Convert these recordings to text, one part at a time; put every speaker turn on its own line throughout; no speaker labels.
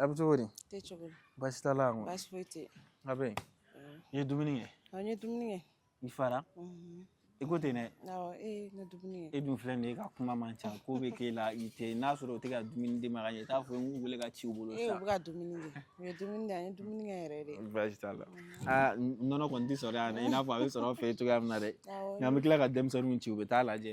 A bɛ cogo di
baasi t'a
la a bɛ i ye dumuni kɛ n ye dumuni
kɛ i fara
i ko ten
e dun filɛ nin ye e ka kuma man
ca ko bɛ k'e la i tɛ n'a sɔrɔ o tɛ ka dumuni d'i ma i t'a fɔ n weele ka ci
bolo baasi t'a la
aa nɔnɔ kɔni tɛ sɔrɔ yan i n'a fɔ a bɛ sɔrɔ an fɛ cogoya min na dɛ nka an bɛ tila ka denmisɛnninw ci u bɛ taa lajɛ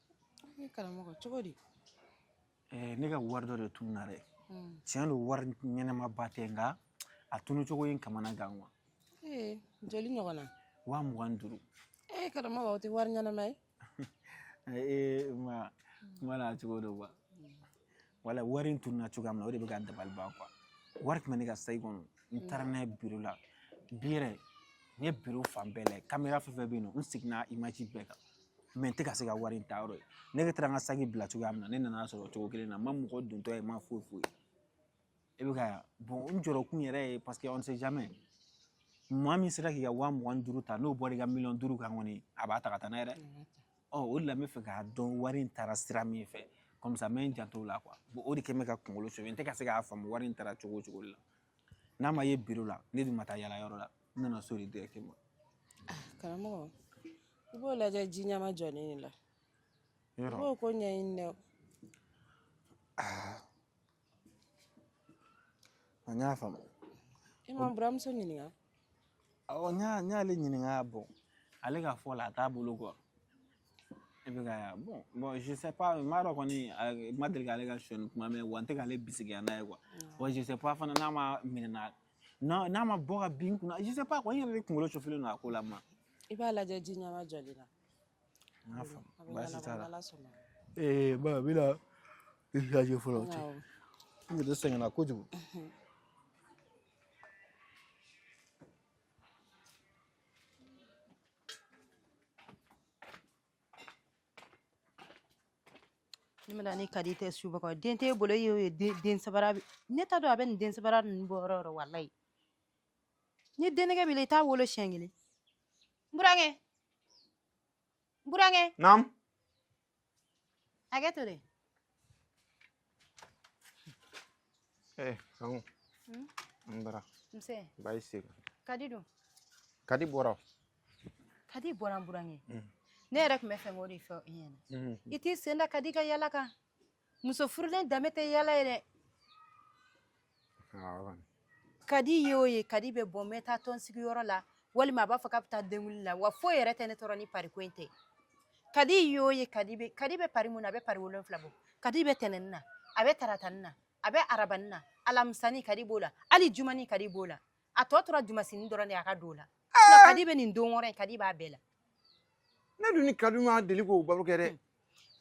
Ne karamɔgɔ cogo
di
eh, ne ka wari dɔ de tununa dɛ hmm. tiɲɛ don wari ɲɛnɛmaba tɛ nka a tunu cogo ye n kamana gan quoi eh,
joli ɲɔgɔn na waa mugan ni
duuru ee eh,
karamɔgɔ o tɛ wari ɲɛnɛma ye ee ma
kuma na cogo don quoi voilà wari in tununa cogoya min na o de bɛ ka n dabali ban wari tun bɛ ne ka saki kɔnɔ n taara n'a ye biro la bi yɛrɛ n ye biro fan bɛɛ lajɛ kamera fɛn fɛn bɛ yen nɔ n seginna bɛɛ kan mais n tɛ ka se ka wari in ta yɔrɔ ye ne taara n ka saki bila cogoya min na ne nan'a sɔrɔ cogo kelen na n ma mɔgɔ dontɔ ye n ma foyi foyi e bɛ k'a ye bon n jɔrɔkun yɛrɛ ye parce que on sait jamais maa min sera k'i ka waa mugan ni duuru ta n'o bɔra i ka miliyɔn duuru kan kɔni a b'a ta ka taa n'a ye dɛ ɔ o de la n bɛ fɛ k'a dɔn wari in taara sira min fɛ comme ça n bɛ n janto o la quoi bon o de kɛ bɛ ka n kunkolo sɛgɛn n tɛ ka se k'a faamu wari in taara cogo o cogo la n'a ma ye biro la ne dun ma taa yala yɔrɔ la n nana so de directement ah,
karamɔgɔ i b'o lajɛ ji ɲɛmajɔlen de la i b'o ko ɲɛɲini dɛ ah.
N y'a faamu e
ma buramuso ɲininka
awɔ n y'ale ɲininka bon ale ka fɔ la a t'a bolo quoi e bɛ k'a ye bon je sais pas n m'a dɔn kɔni n ma deli k'ale ka sɔni kuma mɛn wa n tɛ k'ale bisigiya n'a ye quoi wa je sais pas fana n'a ma minɛ n'a ma bɔ ka bin n kunna je sais pas kɔni n yɛrɛ de kunkolo chauffélen don a ko la ma i b'a lajɛ ji
ɲɛmajɔlen la N
y'a faamu baasi t'a la
ee ba n bɛna
i lajɛ fɔlɔ cɛ n yɛrɛ sɛgɛnna kojugu
ne bɛna ni kadi tɛ subaga den t'e bolo e y'o ye den sabara ne t'a dɔn a bɛ nin den sabara ninnu bɔ yɔrɔ o yɔrɔ walayi ni den nege b'i la i t'a wolo siɲɛ kelen n burankɛ n burankɛ naamu hakɛ to dɛ
eh kanku hmm? n bara nse
bayi
segu kadi
dun kadi
bɔra kadi
bɔra n burankɛ hmm. ne yɛrɛ tun bɛ fɛ k'o de fɔ i ɲɛna hmm. i t'i sen da kadi ka yala kan muso furulen danbe tɛ yala ye dɛ kadi ye o ye kadi bɛ bɔ n bɛ taa tɔnsigi yɔrɔ la walima a b'a fɔ k'a bɛ taa denguli la wa foyi yɛrɛ tɛ ne tɔɔrɔ ni pariko in tɛ kadi ye o ye kadi bɛ pari mun na a bɛ pari wolonfila bɔ kadi bɛ tɛnɛni na a bɛ taratani na a bɛ arabani na alamisani kadi b'o la hali jumani kadi b'o la a tɔ tora dimasini dɔrɔn a ka don o la kadi bɛ nin don wɔɔrɔ kadi b'a bɛɛ la
ne dun ni kadi ma deli k'o baro kɛ dɛ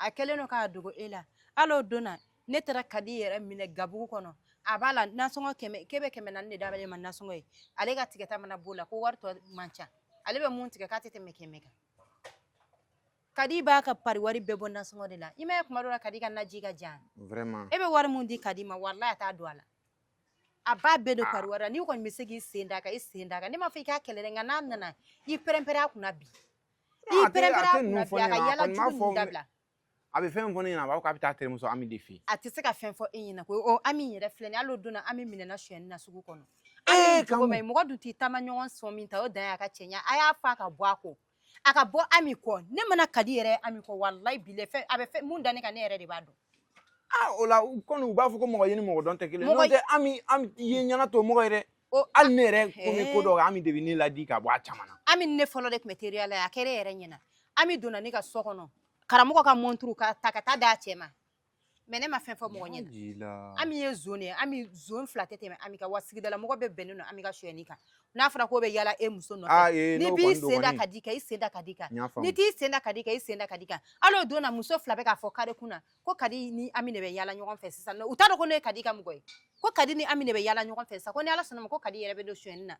a kɛlen don k'a
dogo e la hali o don na ne taara kadi yɛrɛ minɛ gabugu kɔnɔ a b'a la nasɔngɔ kɛmɛ k'e bɛ kɛmɛ naani d'ale ma nasɔngɔ ye ale ka tigɛta mana b'o la ko wari tɔ man ca ale bɛ mun tigɛ k'a tɛ tɛmɛ kɛmɛ kan kadi b'a ka pari wari bɛɛ bɔ nasɔngɔ de la i m'a ye kuma dɔ la kadi ka naji ka jan e bɛ wari
mun di kadi
ma walayi a t'a don a la a b'a bɛɛ don pari wari la n'i kɔni bɛ se k'i sen d'a kan i sen d'a kan ne m'a fɔ i k'a kɛlɛ dɛ nka n'a nana i pɛrɛnpɛrɛn a kunna bi i pɛrɛnpɛrɛn a kunna bi a ka yala jugu ninnu dabila a bɛ fɛn fɔ
ne ɲɛna a b'a fɔ k'a bɛ taa terimuso Ami de fɛ yen a tɛ se ka fɛn fɔ
e ɲɛna koyi ɔ Ami yɛrɛ filɛ nin ye hali o don na Ami minɛna sonyɛni na sugu kɔnɔ Ami ye jogo ma ye mɔgɔ dun t'i taamaɲɔgɔn sɔn min ta o dan y'a ka cɛɲa a y'a fɔ a ka bɔ a kɔ a ka bɔ ami kɔ ne mana kadi yɛrɛ ami kɔ walayi bilayi a bɛ fɛn mun da ne kan ne yɛrɛ de b'a dɔn ah o la
kɔni u b'a fɔ ko mɔgɔ ye ni mɔgɔ dɔn tɛ kelen n'o tɛ ami ami ye ɲɛna to mɔgɔ ye dɛ hali ne yɛrɛ ko n bɛ ko dɔ kɛ ami de bɛ ne ladi ka bɔ a caman na ami ne fɔlɔ de tun bɛ
teriya la a kɛra e yɛrɛ ɲɛna ami donna ne ka so kɔnɔ karamɔgɔ ka mɔnturu k'a ta ka taa d'a cɛ ma mɛ ne ma fɛn fɔ mɔgɔ ɲɛna ami ye zon ye ami zon fila tɛ tɛmɛ ami kan wa sigidalamɔgɔ bɛɛ bɛnnen don ami ka sonyɛni kan n'a fɔra k'o bɛ yala e muso nɔfɛ n'i b'i sen da kadi kan i sen da kadi kan n'i t'i sen da kadi kan i sen da kadi kan hali o don na muso fila bɛ k'a fɔ kare kun na ko kadi ni ami de bɛ yala ɲɔgɔn fɛ sisan u t'a dɔn ko ne ye kadi ka mɔgɔ ye ko kadi ni ami de bɛ yala ɲɔgɔn fɛ sisan ko ni ala sɔnna a ma ko kadi yɛrɛ bɛ don sonyɛni na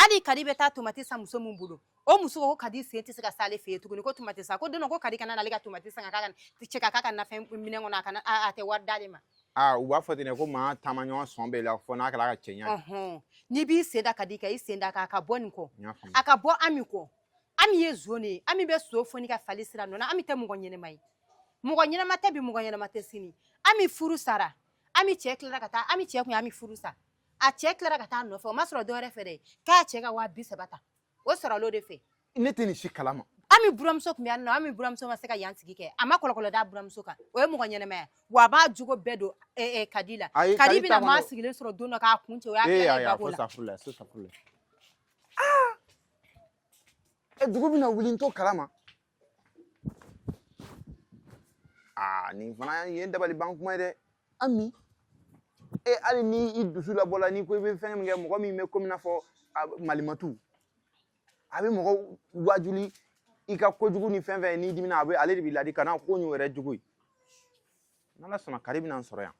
hali kadi bɛ taa tomati san muso min bolo o muso ko kadi sen tɛ se ka s'ale fɛ yen tuguni ko tomati san ko don ko kadi kana n'ale ka tomati san ka k'a k'a cɛ k'a k'a ka nafɛn minɛn kɔnɔ a kana a tɛ wari d'ale ma aa u b'a fɔ ten dɛ
ko maa taamaɲɔgɔn sɔn b'i la fɔ n'a kɛra a ka cɛɲa ye n'i b'i sen
da kadi kan i sen d'a kan a ka bɔ nin kɔ a ka bɔ ami kɔ ami ye zon de ye ami bɛ so foni ka fali siri a nɔ na ami tɛ mɔgɔ ɲɛnɛma ye mɔgɔ ɲɛnɛma tɛ bi mɔgɔ ɲɛnɛma tɛ sini ami furu sara ami cɛ tilara ka taa ami cɛ tun ye ami furu sa a cɛ tilara ka taa a nɔfɛ o ma sɔrɔ dɔwɛrɛ fɛ dɛ k'a cɛ ka waa bi saba ta o sɔrɔla o de fɛ ne tɛ nin si kalama
ami buramuso tun bɛ
yan nɔ ami buramuso ma se ka yan sigi kɛ a ma kɔlɔkɔlɔ d'a buramuso kan o ye mɔgɔ ɲɛnɛmaya wa a b'a jogo bɛɛ don eh, eh, kadi la Ayi, kadi Kadi bɛna taa maa dɔ sigilen sɔrɔ don dɔ k'a kun ci o y'a ee kɛ ayi a bako fo la safurula fo safurula
ɛ dugu bɛna wuli n t'o kalama aa nin fana ye dabali ban kuma ye dɛ ami e hali ni i dusu labɔla n'i ko i bɛ fɛn min kɛ mɔgɔ min bɛ komi i n'a fɔ malimatu a bɛ mɔgɔ wajuli i ka kojugu ni fɛn fɛn n'i dimina a bɛ ale de b'i ladi kana ko ɲɔ yɛrɛ jugu ye n'ala sɔnna kari bɛna n sɔrɔ yan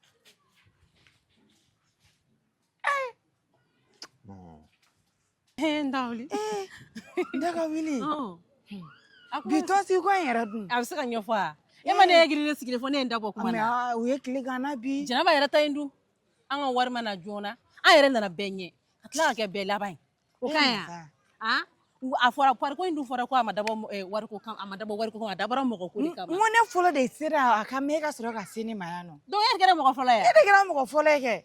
Ee n daga wili. Ee n daga wili. Ɔn. A ko. Bi tɔnsi ko in yɛrɛ dun. A bɛ se ka ɲɛfɔ
wa. E ma ne ye giri de sigilen fɔ ne ye n da bɔ kuma na. U ye tile gan n na bi.
Jɛnɛba yɛrɛ ta in dun.
An ka wari ma na joona. An yɛrɛ nana bɛɛ ɲɛ. Ka tila ka kɛ bɛɛ laban ye. O ka ɲi wa? An? a fɔra pari ko in dun fɔra ko a ma dabɔ eh, wariko kan a ma dabɔ wariko kan a dabɔra mɔgɔ ko de kama. N ko ne fɔlɔ de sera
a ka mɛ ka sɔrɔ ka se ne ma yan nɔ. Donc e de kɛra mɔgɔ fɔlɔ ye. E
de kɛra mɔgɔ fɔlɔ ye
kɛ.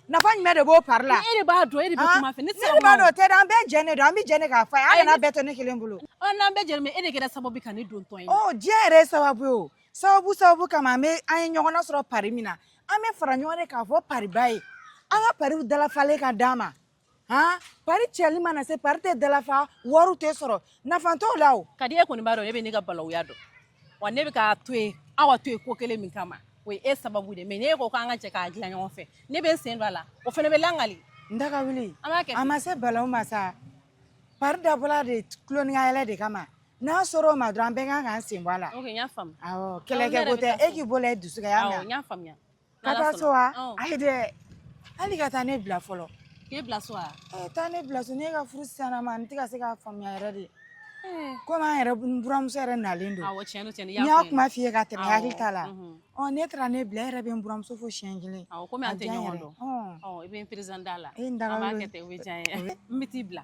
nafa jumɛn de b'o pari la e de b'a dɔn e de bɛ
kuma fɛ ne de b'a dɔn o tɛ dɛ an
bɛɛ jɛn de don an bɛ jɛn de k'a fɔ a ye an kana bɛɛ to ne kelen bolo ɔ n'an bɛɛ jɛn e de
kɛra sababu ka ne don tɔn in na ɔ diɲɛ yɛrɛ ye sababu
ye o sababu sababu kama an bɛ an ye ɲɔgɔn nasɔrɔ pari min na an bɛ fara ɲɔgɔn de k'a fɔ pariba ye an ka pariw dalafalen ka d'an ma han pari cɛli mana se pari tɛ dalafa wariw tɛ sɔrɔ nafa t'o la o ka di e kɔni b'a dɔn e bɛ ne
ka balawuya dɔn wa ne bɛ k'a to yen aw ka to yen ko kelen min kama o ye e sababu de ye mais n'e ko k'an ka jɛ k'a dilan ɲɔgɔn fɛ ne bɛ n sen don a la o fana bɛ langali n daga
wuli an b'a kɛ a ma se
balawu ma
sa pari dabɔla de tuloningayɛlɛ de kama n'a sera o ma dɔrɔn an bɛɛ kan k'an sen bɔ a la ok n y'a faamu awɔ
kɛlɛkɛko
tɛ e k'i bolo da i dusu kan n y'a mɛn n y'a faamuya
Ka taa so
wa ayi dɛ hali ka taa ne bila fɔlɔ e bila
so taa ne bila so ne
ka furu siya ma n tɛ ka se k'a faamuya yɛrɛ de komi an yɛrɛ buramuso yɛrɛ nalen don n
y'a kuma f'i
ye ka tɛmɛ hakili t'a la ne taara ne bila e yɛrɛ bɛ n buramuso fo siyɛn kelen tɛ i
bɛ n perezante a la n bɛ t'i bila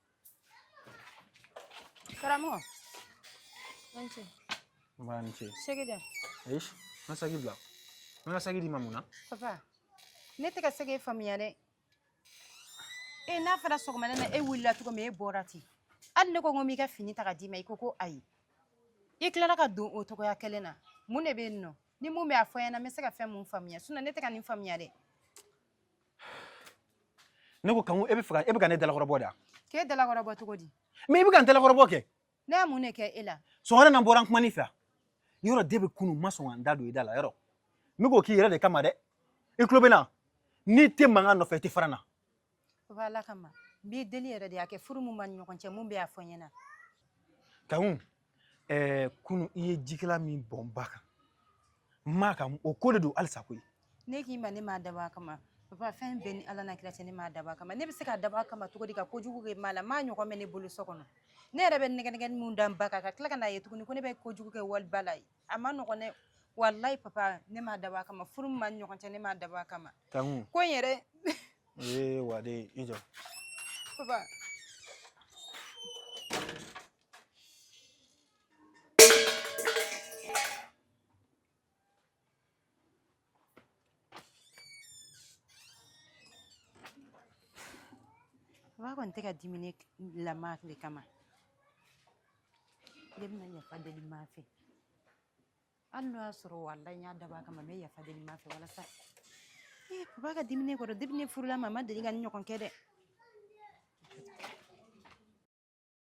Karamɔgɔ. Nba
ni ce. Nba ni ce. Sigi dɛ. Eish,
na
sagi bila. N ka sagi d'i ma mun na. Papa.
Ne tɛ ka se k'e faamuya dɛ. E n'a fɔra sɔgɔmada na e wulila cogo min e bɔra ten. Hali ne ko n ko n b'i ka fini ta ka d'i ma i ko ko ayi. I tilara ka don o cogoya kelen na. Mun de bɛ yen nɔ? Ni mun bɛ a fɔ n ɲɛna n bɛ se ka fɛn mun faamuya. Sinon ne tɛ ka nin faamuya dɛ.
ne ko kanku e bɛ fɛ ka e bɛ ka ne dalakɔrɔbɔ da k'e dalakɔrɔbɔ
cogo di mɛ i bɛ ka n
dalakɔrɔbɔ kɛ ne ye mun de kɛ e
la sɔgɔmada na n bɔra n kuman'i
fɛ yɛrɛ depuis kunu n ma sɔn ka n da don i da la yɛrɛ n bɛ k'o k'i yɛrɛ de kama dɛ i tulo bɛ n na n'i tɛ mankan nɔfɛ i tɛ fara n na papa ala
kama n b'i deli yɛrɛ de a kɛ furu min b'an ni ɲɔgɔn cɛ mun bɛ yen a fɔ n ɲɛna kanku
ɛɛ kunu i ye jikalan min bɔn n ba kan maa ka o ko de don halisa koyi ne k'i ma ne
m'a dabɔ a kama papa fɛn bɛɛ ni ala na kira cɛ ne m'a dabɔ a kama ne bɛ se k'a dabɔ a kama cogo di ka kojugu kɛ maa la maa ɲɔgɔn bɛ ne bolo so kɔnɔ ne yɛrɛ bɛ nɛgɛnɛgɛni min da n ba kan ka tila ka n'a ye tuguni ko ne bɛ kojugu kɛ wali ba la a man nɔgɔn dɛ walayi papa ne m'a dabɔ a kama furu min b'an ni ɲɔgɔn cɛ ne m'a dabɔ a kama kanku ko in yɛrɛ ee
waden i jɔ papa
Ba kɔni tɛ ka dimi ne la Mã le kama. Ne bɛna yafa deli Mã fɛ. Hali n'o y'a sɔrɔ walahi n y'a dabɔ a kama n bɛ yafa deli Mã fɛ walasa ee papa ka dimi ne kɔrɔ depuis ne furula a ma a ma deli ka nin ɲɔgɔn kɛ dɛ.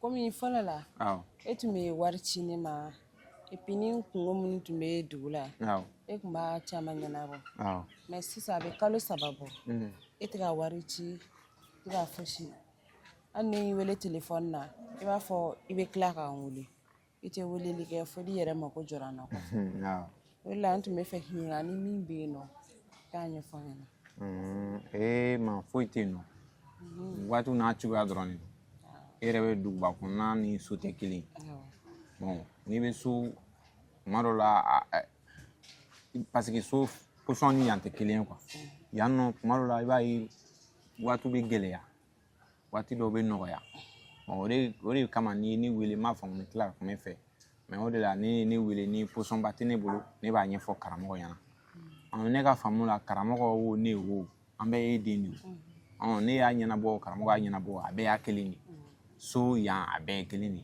kɔmi fɔlɔ la e tun
bɛ
wari ci ne ma epi ni kungo minnu tun bɛ dugu la e tun b'a
caman
ɲɛnabɔ mɛ
sisan a bɛ
kalo saba bɔ mm. e tɛ ka wari ci i tɛ ka fosi hali ni n y'i wele telefɔni na i b'a fɔ i bɛ tila k'an wele i tɛ weleli kɛ fo n'i yɛrɛ mako jɔra n na
o la n tun
b'a fɛ k'i ɲininka ni min bɛ yen nɔ k'a ɲɛfɔ n ɲɛna ee ma foyi tɛ yen
nɔ waati n'a cogoya dɔrɔn de e yɛrɛ bɛ duguba kɔnɔna ni so tɛ kelen n'i bɛ so tuma dɔ la paseke so pozisɔn ni yan tɛ kelen ye yan nɔ tuma dɔ la i b'a ye waati bɛ gɛlɛya waati dɔw bɛ nɔgɔya o de o de kama n'i ye ne wele n m'a faamu n tila ka kuma i fɛ mɛ o de la n'i ye ne wele ni pozisɔnba tɛ ne bolo ne b'a ɲɛfɔ karamɔgɔ ɲɛna ɔ ne ka faamu la karamɔgɔ wo ne wo an bɛɛ ye den de ye ɔ ne y'a ɲɛnabɔ karamɔgɔ y'a ɲɛnabɔ a bɛɛ ye kelen de so yan a bɛɛ ye kelen de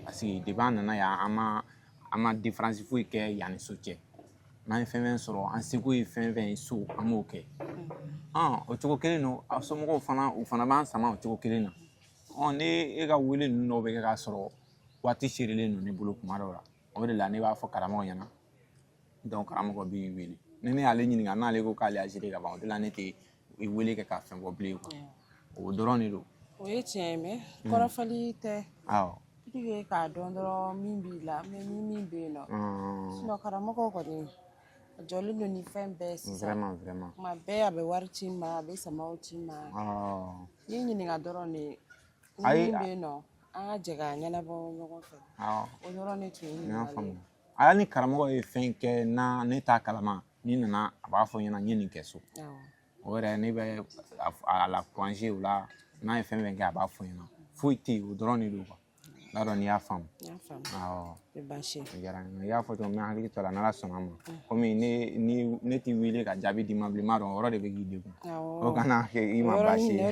parce que depi an nana yan an ma an ma diferansi foyi kɛ yan ni so cɛ n'an ye fɛn o fɛn sɔrɔ an seko ye fɛn o fɛn ye so an b'o kɛ o cogo kelen don a somɔgɔw fana u fana b'an sama o cogo kelen na ne e ka wele ninnu dɔw bɛ kɛ k'a sɔrɔ waati sɛrɛlen don ne bolo tuma dɔw la o de la ne b'a fɔ karamɔgɔ ɲɛna karamɔgɔ b'i wele ni ne y'ale ɲininka n'ale ko k'ale y'a géré ka ban o de la ne tɛ i wele kɛ ka fɛn fɔ bilen quoi yeah. o dɔrɔn de don o ye tiɲɛ ye mɛ
mm. kɔrɔfɔli tɛ awɔ
purike
k'a dɔn dɔrɔn min b'i la mɛ ni min bɛ yen nɔ mm. sinɔ karamɔgɔ kɔni a jɔlen don ni fɛn bɛɛ sisan tuma bɛɛ
a bɛ
wari ci n ma a bɛ samaw ci n ma n'i ɲininka dɔrɔn de ni min bɛ yen nɔ an ka jɛ k'a ɲɛnabɔ ɲɔgɔn fɛ o dɔrɔn de tun ye ɲininkali ye hali ni karamɔgɔ ye
fɛn kɛ na ne t'a kalama n'i nana a b'a fɔ n ɲɛna n ye nin kɛ so o yɛrɛ ne bɛ a la kuraze o la n'a ye fɛn fɛn kɛ a b'a fɔ n ɲɛna foyi tɛ yen o dɔrɔn de don n t'a dɔn n'i y'a faamu
i y'a fɔ
cogo min n bɛ hakili to a la n'ala sɔnna ma komi ne t'i wele ka jaabi d'i ma bilen n b'a dɔn o yɔrɔ de bɛ k'i degun o kana kɛ i ma baasi ye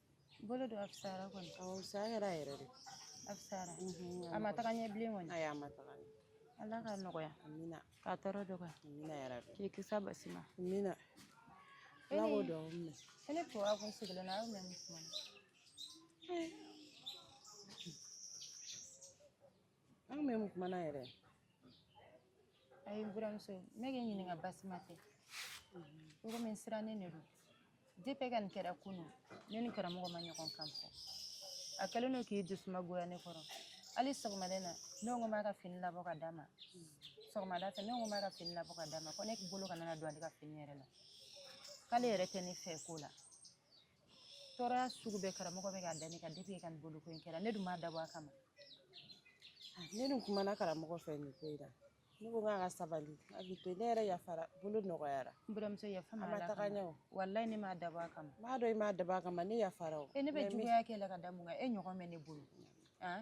bolo don
a fisayara kɔni awɔ fisaya kɛra
yɛrɛ de a
fisayara a ma taga ɲɛ bilen kɔni ayi a ma taga
ɲɛ ala ka nɔgɔya
amina k'a tɔɔrɔ
dɔgɔya
amina yarabi k'i
kisi a baasi
ma
amina ala k'o dugawu minɛ e ne tun
kun sigilen na a y'o mɛn mun kuma na
an kun bɛ mun kuma na
yɛrɛ ayi n buramuso ne k'i ɲininka baasi ma tɛ komi n sirannen de don depi i ka nin kɛra kunun ne ni karamɔgɔ ma ɲɔgɔn kan fɔ a kɛlen don k'i dusuma goya ne kɔrɔ hali sɔgɔmada in na ne ko n b'a ka fini labɔ ka d'a ma sɔgɔmada fɛ ne ko n b'a ka fini labɔ ka d'a ma ko ne bolo kana na don ale ka fini yɛrɛ la k'ale yɛrɛ tɛ ne fɛ ko la tɔɔrɔya sugu bɛɛ karamɔgɔ bɛ k'a da ne kan depi e ka nin boloko in kɛra ne dun m'a dabɔ a kama ah, ne
dun
kumana
karamɔgɔ fɛ nin
ko
in na ne ko
k'a ka sabali hakɛ to ne yɛrɛ yafara bolo nɔgɔyara n buramuso yafa n
ma a ma taga ɲɛ o walayi ne
m'a dabɔ
a kama n b'a dɔn i m'a dabɔ a kama
ne yafara o e ne bɛ juguya kɛ i la ka
da mun
kan
e ɲɔgɔn bɛ ne bolo ah?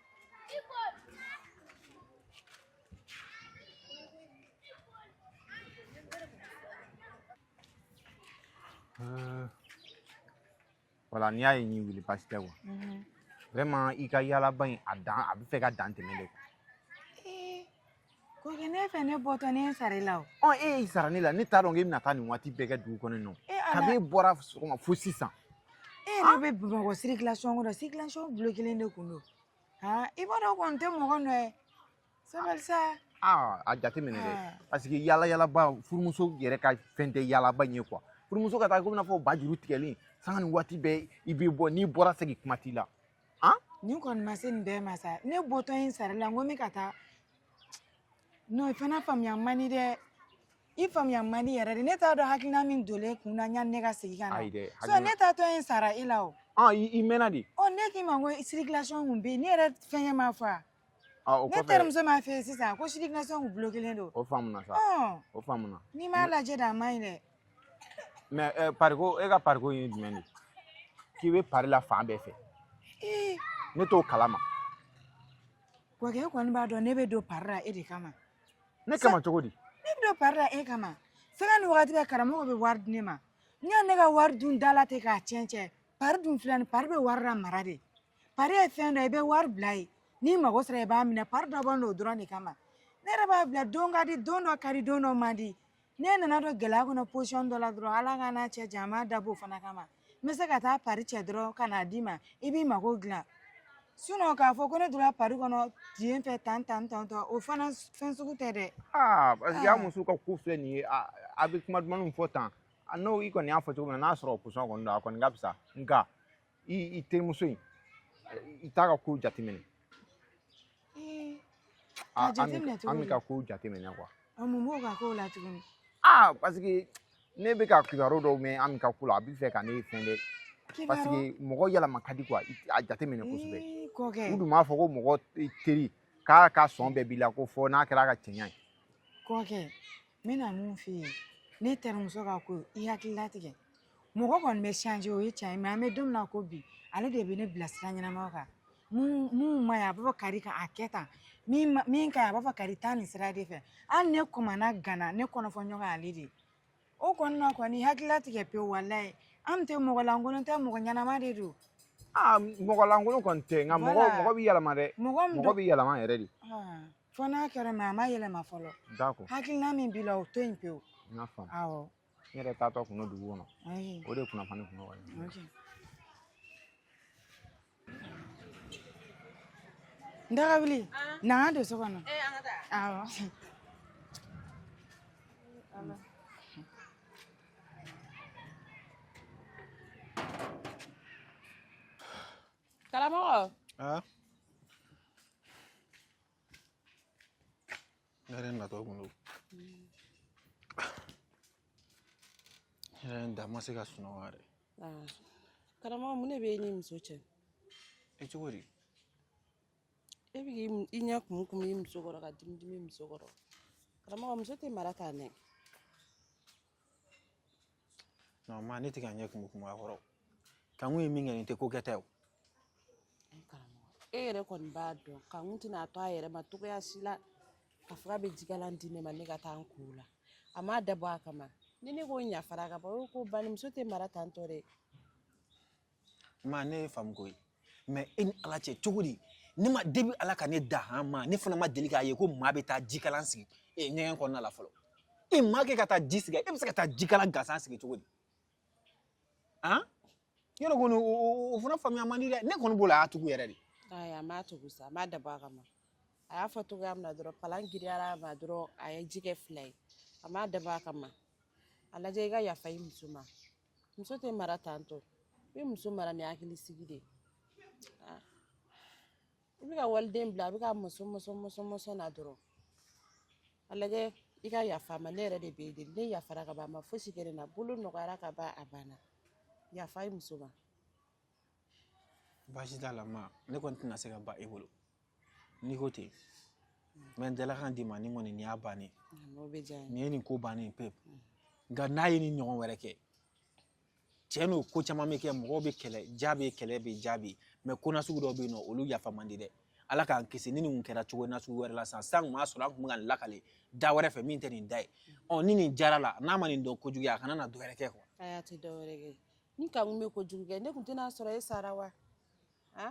Euh, voilà n'i y'a ye n y'i wele baasi tɛ quoi vraiment i ka yaalaba in a dan a bɛ fɛ ka dan tɛmɛ dɛ quoi
Kɔkɛ ne fɛ ne bɔtɔ ne ye n sara i la o ɔ e y'i sara ne la
ne t'a dɔn k'e bɛna taa nin waati bɛɛ kɛ dugu kɔnɔ yen nɔ e ala kabini e bɔra sɔgɔma fo sisan e yɛrɛ bɛ
bamakɔ circulation kɔnɔ circulation bulokelen de kun don han i b'a dɔn o kɔni tɛ mɔgɔ nɔ ye sabali sa aa a
jateminɛ dɛ Ah. parce que yaala yaalaba furumuso yɛrɛ ka fɛn tɛ yaalaba in ye quoi furumuso ka taa komi n'a fɔ ba juru tigɛlen sanga ni waati bɛɛ i bɛ bɔ n'i bɔra segin kuma t'i la nin
kɔni ma se nin bɛɛ ma sa ne bɔtɔ ye n sara i la n ko n bɛ ka taa non i fana faamuya man di dɛ i faamuya man di yɛrɛ de ne t'a dɔn hakilina min donlen kun na yanni ne ka segin ka na ayi dɛ so ne
taatɔ ye n
sara e la o i mɛnna de
ɔ ne k'i ma ko
circulation kun bɛ yen ne yɛrɛ fɛngɛ ma fɔ wa Ah, ne
terimuso m'a fɔ e ye
sisan ko circulation kun bulokelen don o faamuna
sa o faamuna n'i m'a lajɛ dɛ
a man ɲi dɛ mais
eh, pariko e ka pariko ye jumɛn de k'i bɛ pari la fan bɛɛ fɛ ne t'o kalama
kɔkɛ e kɔni b'a dɔn ne bɛ don pari la e de kama ne kama
cogo di ne bɛ don pari la
e kama sanga ni wagati bɛɛ karamɔgɔ bɛ wari di ne ma yanni ne ka wari dun da la ten k'a tiɲɛ tiɲɛ pari dun filɛ nin pari bɛ wari lamara de pari ye fɛn dɔ i bɛ wari bila yen n'i mago sera i b'a minɛ pari dɔ b'an n'o dɔrɔn de kama ne yɛrɛ b'a bila don ka di don dɔ ka di don dɔ man di ne nana don gɛlɛya kɔnɔ position dɔ la dɔrɔn ala k'an n'a cɛ jan an b'a dabɔ o fana kama n bɛ se ka taa pari cɛ dɔrɔn ka n'a d'i ma i b'i mago dilan sinon k'a fɔ ko ne donna pari kɔnɔ yen fɛ tan tan tan tan o fana fɛn sugu tɛ dɛ aa parce que a muso
ka ko filɛ nin ye a a bɛ kuma dumanw fɔ tan a n'o i kɔni y'a fɔ cogo min na n'a sɔrɔ o position kɔni don a kɔni ka fisa nka i i terimuso in i t'a ka kow
jateminɛ a jateminɛ cogo Ami ka kow jateminɛ
quoi ɔ mun b'o ka kow la
tuguni aa parce que
ne bɛ ka kibaru dɔw mɛn Ami ka ko la a bɛ fɛ ka ne fɛn dɛ parce que mɔgɔ yɛlɛma ka di quoi a jateminɛ kosɛbɛ u dun b'a fɔ ko mɔgɔ teri k'a ka sɔn bɛɛ b'i la ko fo n'a kɛra a ka cɛɲa ye kɔkɛ
n bɛna mun f'i ye ne terimuso ka ko i hakili latigɛ mɔgɔ kɔni bɛ changer o ye tiɲɛ ye mais an bɛ don min na ko bi ale de bɛ ne bila sira ɲɛnama kan min man ɲi a b'a fɔ kari kan'a kɛ tan min ka ɲi a b'a fɔ kari taa nin sira de fɛ hali ne kɔmana gana ne kɔnɔfɔɲɔgɔn ale de o kɔni na kɔni hakili latigɛ pewu walayi a tɛ mɔgɔ lankolon tɛ mɔgɔ ɲɛnama de don mɔgɔ
lankolon kɔni tɛ nka mɔgɔ bɛ yɛlɛma dɛ mɔgɔ bɛ yɛlɛma yɛrɛ de fo
n'a kɛra mais a ma yɛlɛma fɔlɔ d'accord
hakilina min b'i la
o to yen pewu n y'a faamu
awɔ n
yɛrɛ taatɔ
kun don dugu kɔnɔ ayi o de kunnafoni
kun nɔgɔ ye
ok
n daga wuli na an ka don so kɔnɔ awɔ
Karamɔgɔ.
Aa. Ne yɛrɛ natɔ kun don. Ne yɛrɛ n da ma se ka sunɔgɔ yɛrɛ. Aa.
Karamɔgɔ mun de bɛ e n'i muso cɛ? E
cogo
di? E bɛ k'i i ɲɛ kumu kumu i muso kɔrɔ ka dimi dimi i muso kɔrɔ. Karamɔgɔ muso tɛ mara tan dɛ.
non ma ne tɛ ka ɲɛ kumu kumu a kɔrɔ kankun ye min kɛ nin tɛ ko kɛta ye
o e yɛrɛ kɔni b'a dɔn kankun tɛna a to a yɛrɛ ma cogoya si la k'a fɔ k'a bɛ jikalan di ne ma ne ka taa n ko la a m'a dabɔ a kama ni ne ko n yafara ka ban o ko bani muso tɛ mara tantɔ dɛ
Maa ne y'i faamu koyi mais e ni ala cɛ cogo di ne ma depuis ala ka ne da ha ma ne fana ma deli k'a ye ko maa bɛ taa jikalan sigi e ɲɛgɛn kɔnɔna la fɔlɔ e maa kɛ ka taa ji sigi e bɛ se ka taa jikalan gansan sigi cogo di han yɔrɔ kɔni o fana faamuya man di dɛ ne kɔni bolo a y'a tugu yɛrɛ de a m'a
tugu sa a m'a dabɔ a kama a y'a fɔ cogoya min na dɔrɔn palan giriyara a ma dɔrɔn a ye ji kɛ fila ye a m'a dabɔ a kama a lajɛ i ka yafa i muso ma muso tɛ mara tantɔ i bɛ muso mara ni hakili sigi de ah. i bɛ ka waliden bila a bɛ ka mɔsɔn mɔsɔn na dɔrɔn a lajɛ i ka yafa ma ne yɛrɛ de b'e deli ne yafara ka ban a ma fosi kɛ ne na bolo nɔgɔyara ka ban a banna yafa i muso ma
baasi t'a la ma ne kɔni tɛna se ka ban e bolo n'i ko ten n bɛ n dalakan d'i ma ni kɔni nin y'a bannen
nin ye nin ko bannen
pewu nka n'a ye nin ɲɔgɔn wɛrɛ kɛ cɛ n'o ko caman bɛ kɛ mɔgɔw bɛ kɛlɛ ja bɛ kɛlɛ bɛ ja bɛ mɛ ko nasugu dɔw bɛ yen nɔ olu yafa man di dɛ ala k'an kisi ni nin kun kɛra cogo nasugu wɛrɛ la sisan an kun b'a sɔrɔ an kun bɛ ka nin lakale da wɛrɛ fɛ min tɛ nin da ye ɔ ni nin jara la n'a ma nin dɔn kojugu ye a kana na dɔ wɛrɛ kɛ kuwa a y'a tɛ dɔ wɛrɛ kɛ
ni kankun bɛ kojugu kɛ ne kun tɛna sɔrɔ e sara wa a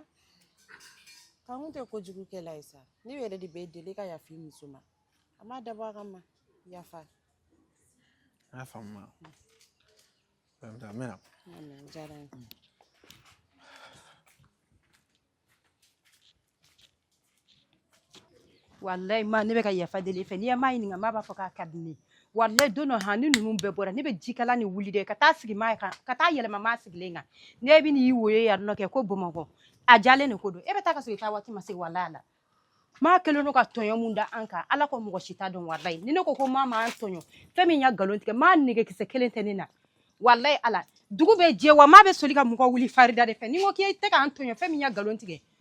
kankun tɛ kojugu kɛla ye sa ne yɛrɛ de b'e deli ka yafa i muso ma a m'a dabɔ a kama yafa
n y'a faamu ma n bɛ na o diyara n ye.
walayi ma ne bɛ ka yafa deli i fɛ n'i ye maa ɲininka maa b'a fɔ k'a ka di ne ye walayi don dɔ han ni ninnu bɛɛ bɔra ne bɛ jikalan ni wuli dɛ ka taa sigi maa kan ka taa yɛlɛma maa sigilen kan ne bɛ n'i woyo yan nɔ kɛ ko bamakɔ a jalen de ko don e bɛ taa ka sɔrɔ i taa waati ma se walayi ala maa kɛlen don ka tɔɲɔ mun da an kan ala ko mɔgɔ si t'a dɔn walayi ni ne ko ko maa ma an tɔɲɔ fɛn min ya nkalon tigɛ maa nɛgɛ kisɛ kelen tɛ ne na walayi ala dugu bɛ jɛ wa maa bɛ soli ka mɔgɔ wuli farida de fɛ ni n ko k'i tɛ k'an tɔɲɔ fɛn min ya nkalon tigɛ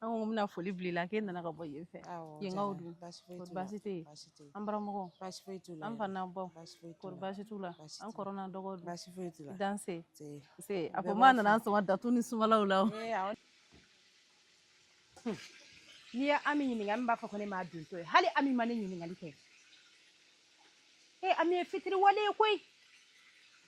an ko n bɛna foli bila i la k'e nana ka bɔ yen fɛ yenkaw dun kɔri baasi tɛ yen an baramɔgɔw baasi foyi t'u la an fa
n'an baw
kɔri baasi t'u
la
an
kɔrɔ
n'an dɔgɔ dun baasi foyi t'u la danse se a
ko maa nana an sɔn
datu ni sumalaw
la n'i ye ami ɲininka ami b'a fɔ ko ne m'a dontɔ ye hali ami ma ne ɲininkali kɛ e ami ye fitiriwale ye koyi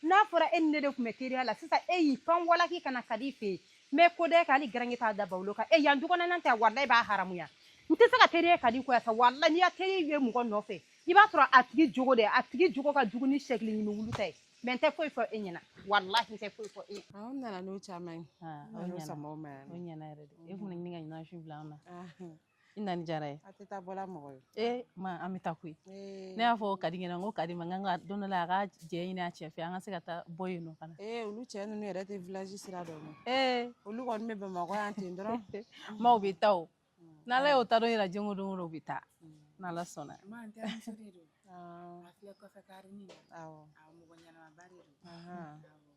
n'a fɔra e ni ne de tun bɛ teriya la sisan e y'i pan walaki ka na kadi fɛ yen n bɛ ko da e kan hali garange t'a da bawolo kan e yan dukɔnɔnan tɛ walayi b'a haramuya n tɛ se ka teriya kadi ko sa walayi n'i ya teri ye mɔgɔ nɔfɛ i b'a sɔrɔ a tigi jogo de a tigi jogo ka jugu ni sɛkili ɲimi wulu ta ye mɛ n tɛ foyi fɔ e ɲɛna walahi n tɛ foyi fɔ e ɲɛna an nana n'o caman ye
o ɲɛna
o ɲɛna yɛrɛ de e kun ni ka ɲinan su bila an na i nani jara ye a tɛ taa bɔla mɔgɔ
ye ee ma an bɛ taa
koyi ne y'a fɔ kadi ɲɛna n ko kadi ma n ka don dɔ la a ka jɛn ɲini a cɛ fɛ an ka se ka taa bɔ yen nɔ fana ee olu cɛ ninnu yɛrɛ
tɛ village sira dɔn ma ee olu kɔni bɛ bamakɔ yan ten dɔrɔn maaw bɛ taa
o n'ala y'o taa don yira don o don o bɛ taa n'ala sɔnna ma n terimuso de
don a filɛ kɔfɛ kare nin na awɔ mɔgɔ ɲɛnamaba de don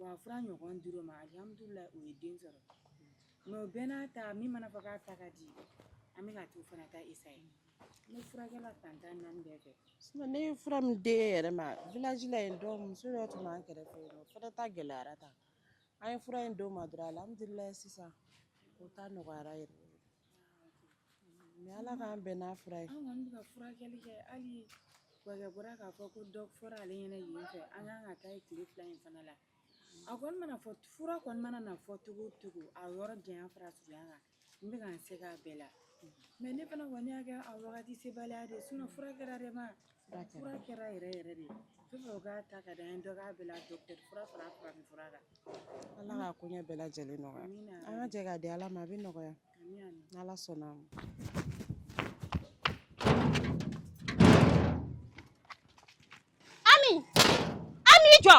Wa fura ɲɔgɔn dir'o ma alhamdulilayi o ye den sɔrɔ mais bɛɛ n'a ta min mana fɔ k'a ta ka di an bɛna t'o fana ta essayer ne furakɛra fan tan ni naani bɛɛ fɛ ne ye fura min
di n yɛrɛ ma village la yen muso dɔ tun b'an kɛrɛfɛ o ta gɛlɛyara tan an ye fura in d'o ma dɔrɔn alhamdulilayi sisan o ta nɔgɔyara yɛrɛ Mais ala k'an bɛn n'a fura ye an kɔni bɛ ka
furakɛli kɛ hali kɔkɛ bɔra k'a fɔ ko dɔ fɔra ale ɲɛna yen fɛ an ka kan ka taa tile fila in fana la a kɔni mana fɔ fura kɔni mana na fɔ cogo o cogo a yɔrɔ janya fara surunya kan n bɛka n se kɛ a bɛɛ la mais ne fana kɔni y'a kɛ a wagati sebaliya de sinon fura kɛra de ma Fura kɛra yɛrɛ yɛrɛ de k'a ta ka di an ye dɔ k'a bɛɛ la docteur fura fara farafin fura kan ala ka
koɲɛ bɛɛ lajɛlen nɔgɔya an ka jɛ k'a di ala ma a bɛ nɔgɔya n'ala sɔnna a ma
ami ami jɔ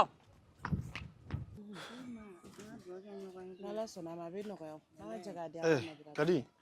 n'ala
sɔnna a ma a bɛ nɔgɔya an ka jɛ k'a di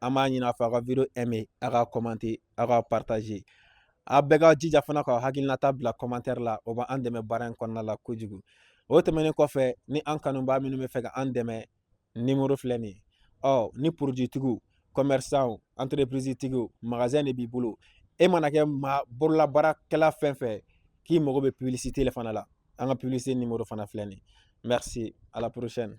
an b'a ɲini a fɛ a ka video aimer a ka commenter a ka partager a bɛɛ ka jija fana ka hakilinata bila commentaire la o bɛ an dɛmɛ baara in kɔnɔna la kojugu o tɛmɛnen kɔfɛ ni an kanubaa minnu b'a fɛ ka an dɛmɛ nimoro filɛ nin ye ɔ ni produit tigiw commerçant entreprise tigiw magasin de b'i bolo e mana kɛ maa bololabaarakɛla fɛn o fɛn k'i mago bɛ publicité le fana la an ka publicité nimoro fana filɛ nin ye merci à la prochaine